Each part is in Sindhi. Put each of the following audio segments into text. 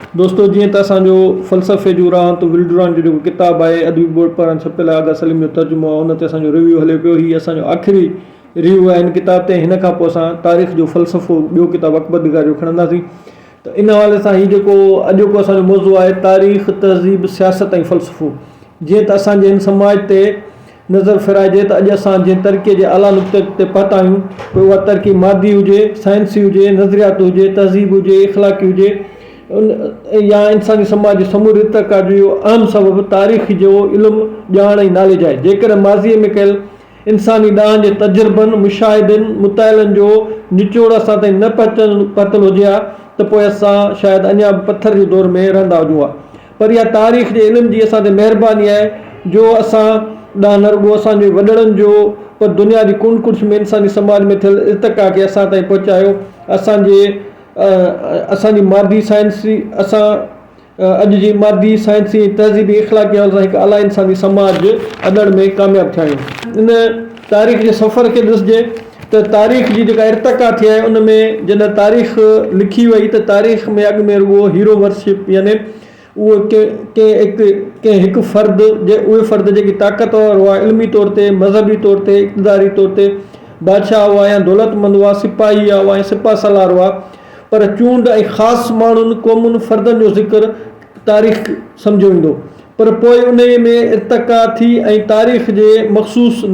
دوستو جيئن ته اسان جو فلسفي جون راهون تون ولڊران جو جيڪو ڪتاب آهي ادبي بورڊ پاران ڇپيل آغا سليم جو ترجمو آهي ان تي اسان جو ريويو هلي پيو هي اسان جو آخري ريويو آهي هن ڪتاب تي هن کان پوء اسان تاريخ جو فلسفو ٻيو ڪتاب اڪبر نگار جو کڻنداسين ته ان حوالي سان هي جيڪو اڄوڪو اسان جو موضوع آهي تاريخ تهذيب سياست ۽ فلسفو جيئن ته اسان جي هن سماج تي نظر ڦيرائجي ته اڄ اسان جنهن ترقيء جي اعليٰ نقطي تي پهتا آهيون، پوء اها ترقي مادي هجي، سائنسي هجي، نظرياتي هجي، تهذيبي هجي، اخلاقي هجي يا انساني سماج جي سموري ارتقا جو اهو اهم سبب تاريخ جو علم، ڄاڻ ۽ ناليج آهي. جيڪڏهن ماضيء ۾ ڪيل انساني ڏاهن جي تجربن، مشاهدن، مطالعن جو نچوڙ اسان تائين نه پهتل هجي ها ته پوء اسان شايد اڃا به پٿر جي دور ۾ رهندا هجون ها. پر اها تاريخ جي علم جي اسان تي مهرباني آهي جو اسان ڏانهن نه رڳو اسان جي وڏڙن جو پر دنيا جي ڪنڊ ڪڙڇ ۾ انساني سماج ۾ ٿيل ارتقا کي اسان تائين پهچايو اسان جي اسان جي مادي سائنسي اسان اڄ جي مادي سائنسي ۽ تهذيبي اخلاقي حوالي سان هڪ اعليٰ انساني سماج اڏڻ ۾ ڪامياب ٿيا آهيون ان تاريخ جي سفر کي ڏسجي ته تاريخ جي جيڪا ارتقا ٿي آهي ان ۾ جڏهن تاريخ لکي وئي ته تاريخ ۾ اڳ ۾ رڳو هيرو ورشپ يعني اهو ڪنهن هڪ فرد اهي فرد جيڪي طاقتور هئا علمي طور تي مذهبي طور تي اقتداري طور تي بادشاهه هئا يا دولتمند هئا سپاهي هئا ۽ سپاه سالار هئا پر چونڊ ۽ خاص ماڻهن قومن فردن جو ذڪر تاريخ سمجهيو ويندو پر پوء انهي ۾ ارتقا ٿي ۽ تاريخ جي مخصوص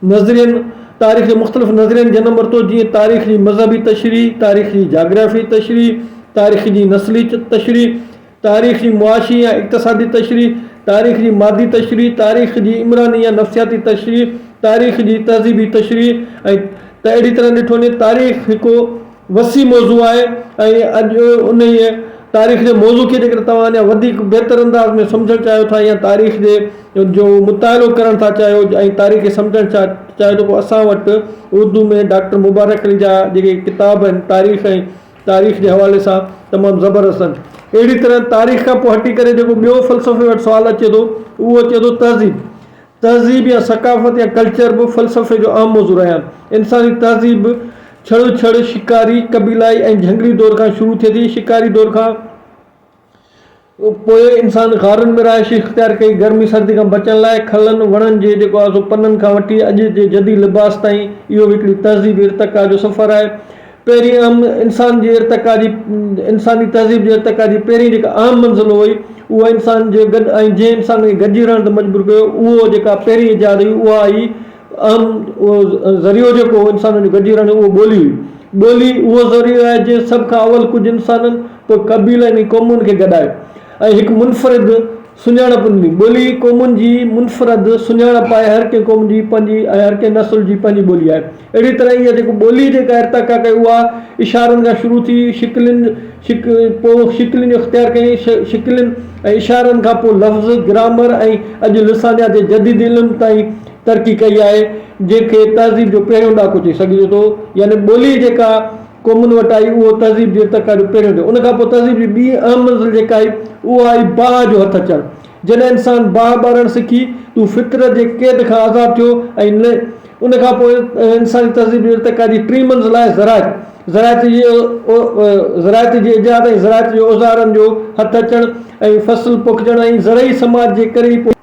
نظرين، تاريخ جي مختلف نظرين جنم ورتو جيئن تاريخ جي مذهبي تشريح، تاريخ جي جاگرافيائي تشريح، تاريخ جي نسلي تشريح، تاريخ جي معاشي يا اقتصادي تشريح، تاريخ جي مادي تشريح، تاريخ جي عمراني يا نفسياتي تشريح، تاريخ جي تهذيبي تشريح ۽ ته اهڙي طرح ڏٺو وڃي تاريخ هڪ وسيع موضوع آهي ۽ اڄ انهيء تاريخ جي موضوع کي جيڪڏهن توهان اڃا وڌيڪ بهتر انداز ۾ سمجهڻ چاهيو ٿا يا تاريخ جي جو مطالعو ڪرڻ ٿا چاهيو ۽ تاريخ کي سمجهڻ ٿا چاهيو ته پوء اسان وٽ اردو ۾ ڊاڪٽر مبارڪ علي جا جيڪي ڪتاب آهن تاريخ ۽ تاريخ جي حوالي سان تمام زبردست آهن اهڙي طرح تاريخ کان پوء هٽي ڪري جيڪو ٻيو فلسفي وٽ سوال اچي ٿو اهو اچي ٿو تهذيب تهذيب يا ثقافت يا ڪلچر به فلسفي جو اهم موضوع رهيا آهن. انساني تهذيب ڇڙو ڇڙ شڪاري، قبيلائي ۽ جهنگلي دور کان شروع ٿئي ٿي. شڪاري دور کان پوء انسان غارن ۾ رهائش اختيار ڪئي. گرمي سردي کان بچڻ لاء کلن، وڻن جي جيڪو آهي سو پنن کان وٺي اڄ جي جديد لباس تائين اهو به هڪڙي تهذيبي ارتقا جو سفر آهي. پهرين اهم انسان جي ارتقا جي انساني تهذيب جي ارتقا جي پهرين جيڪا اهم منزل هئي اها انسان جي گڏ ۽ جنهن انسان کي گڏجي رهڻ تي مجبور ڪيو اهو جيڪا پهرين ايجاد هئي اها هئي اهم اهو ذريعو جيڪو هو انسانن جو گڏجي رهڻ جو اهو ٻولي هئي ٻولي اهو ذريعو آهي جنهن سڀ کان اول ڪجهه انسانن پوء قبيلن ۽ قومن کي گڏايو ۽ هڪ منفرد سڃاڻپ ڏني. ٻولي قومن جي منفرد سڃاڻپ آهي. هر ڪنهن قوم جي پنهنجي ۽ هر ڪنهن نسل جي پنهنجي ٻولي آهي. اهڙي طرح اها جيڪو ٻولي جيڪا ارتقا ڪئي اها اشارن کان شروع ٿي شڪلين پوء شڪلين اختيار ڪيون شڪلين ۽ اشارن کان پوء لفظ، گرامر ۽ اڄ لسانيات جي جديد علم تائين ترقي ڪئي آهي جنهن کي تهذيب جو پهريون ڏاڪو چئي سگهجي ٿو يعني ٻولي جيڪا قومن وٽ آئي اهو تهذيب جي ارتقا جو پهريون ڏينهن. ان کان پوء تهذيب جي ٻي اهم منزل جيڪا آئي اهو آئي باهه جو هٿ اچڻ. جڏهن انسان باهه ٻارڻ سکي تون فطرت جي قيد کان آزاد ٿيو ۽ ان کان پوء انساني تهذيب جي ارتقا جي ٽين منزل آهي زراعت. زراعت جي زراعت جي ايجاد ۽ زراعت جي اوزارن جو هٿ اچڻ ۽ فصل پوکجڻ ۽ زرعي سماج جي ڪري ئي پوء.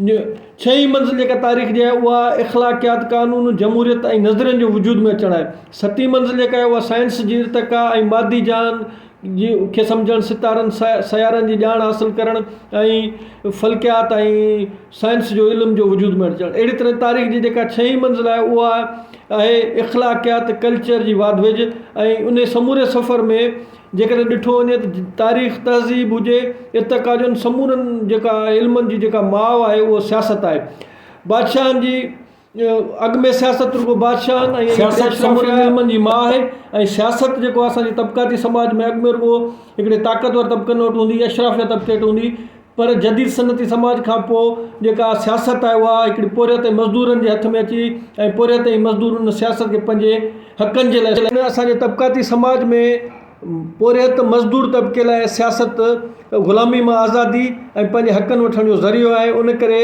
ڇهين منزل جيڪا تاريخ جي آهي اها اخلاقيات، قانون، جمهوريت ۽ نظرين جو وجود ۾ اچڻ آهي. ستين منزل جيڪا آهي اها سائنس جي ارتقا ۽ مادي جهان کي سمجهڻ، ستارن، سيارن جي ڄاڻ حاصل ڪرڻ ۽ فلڪيات ۽ سائنس جو علم جو وجود ۾ اچڻ. اهڙي طرح تاريخ جي جيڪا ڇهين منزل آهي اها آهي اخلاقيات، ڪلچر جي واڌ ويجهه ۽ انهي سموري سفر ۾. جيڪڏهن ڏٺو وڃي ته تاريخ تهذيب هجي ارتقا جون سمورن جيڪا علمن جي جيڪا ماء آهي اهو سياست آهي بادشاهن جي اڳ ۾ سياست رڳو بادشاهن ۽ سياست سمورن علمن جي ماء آهي ۽ سياست جيڪو آهي اسان جي طبقاتي سماج ۾ اڳ ۾ رڳو هڪڙي طاقتور طبقن وٽ هوندي اشرافيه طبقي وٽ هوندي پر جديد صنعتي سماج کان پوء جيڪا سياست آهي اها هڪڙي پورهيت ۽ مزدورن جي هٿ ۾ اچي وئي ۽ پورهيت ۽ مزدور ان سياست کي پنهنجي حقن جي لاء ان اسان جي طبقاتي سماج ۾ پورهيت مزدور طبقي لاء سياست غلامي مان آزادي ۽ پنهنجي حقن وٺڻ جو ذريعو آهي ان ڪري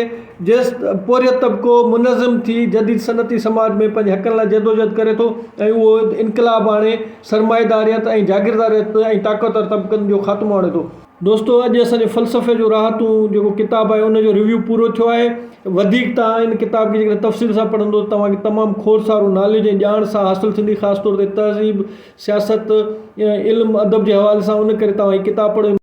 جيس پورهيت طبقو منظم ٿي جديد صنعتي سماج ۾ پنهنجي حقن لاء جدوجهد ڪري ٿو ۽ اهو انقلاب آڻي سرمائيداريت ۽ جاگيرداريت ۽ طاقتور طبقن جو خاتمو آڻي ٿو. دوستو اڄ اسان جي فلسفي جو راحتون جيڪو ڪتاب آهي ان جو ريويو پورو ٿيو آهي وڌيڪ توهان ان ڪتاب کي جيڪڏهن تفصيل سان پڙهندو توهان کي تمام کوڙ سارو ناليج ۽ ڄاڻ سان حاصل ٿيندي خاص طور تي تهذيب سياست علم ادب جي حوالي سان ان ڪري توهان هي ڪتاب پڙهيو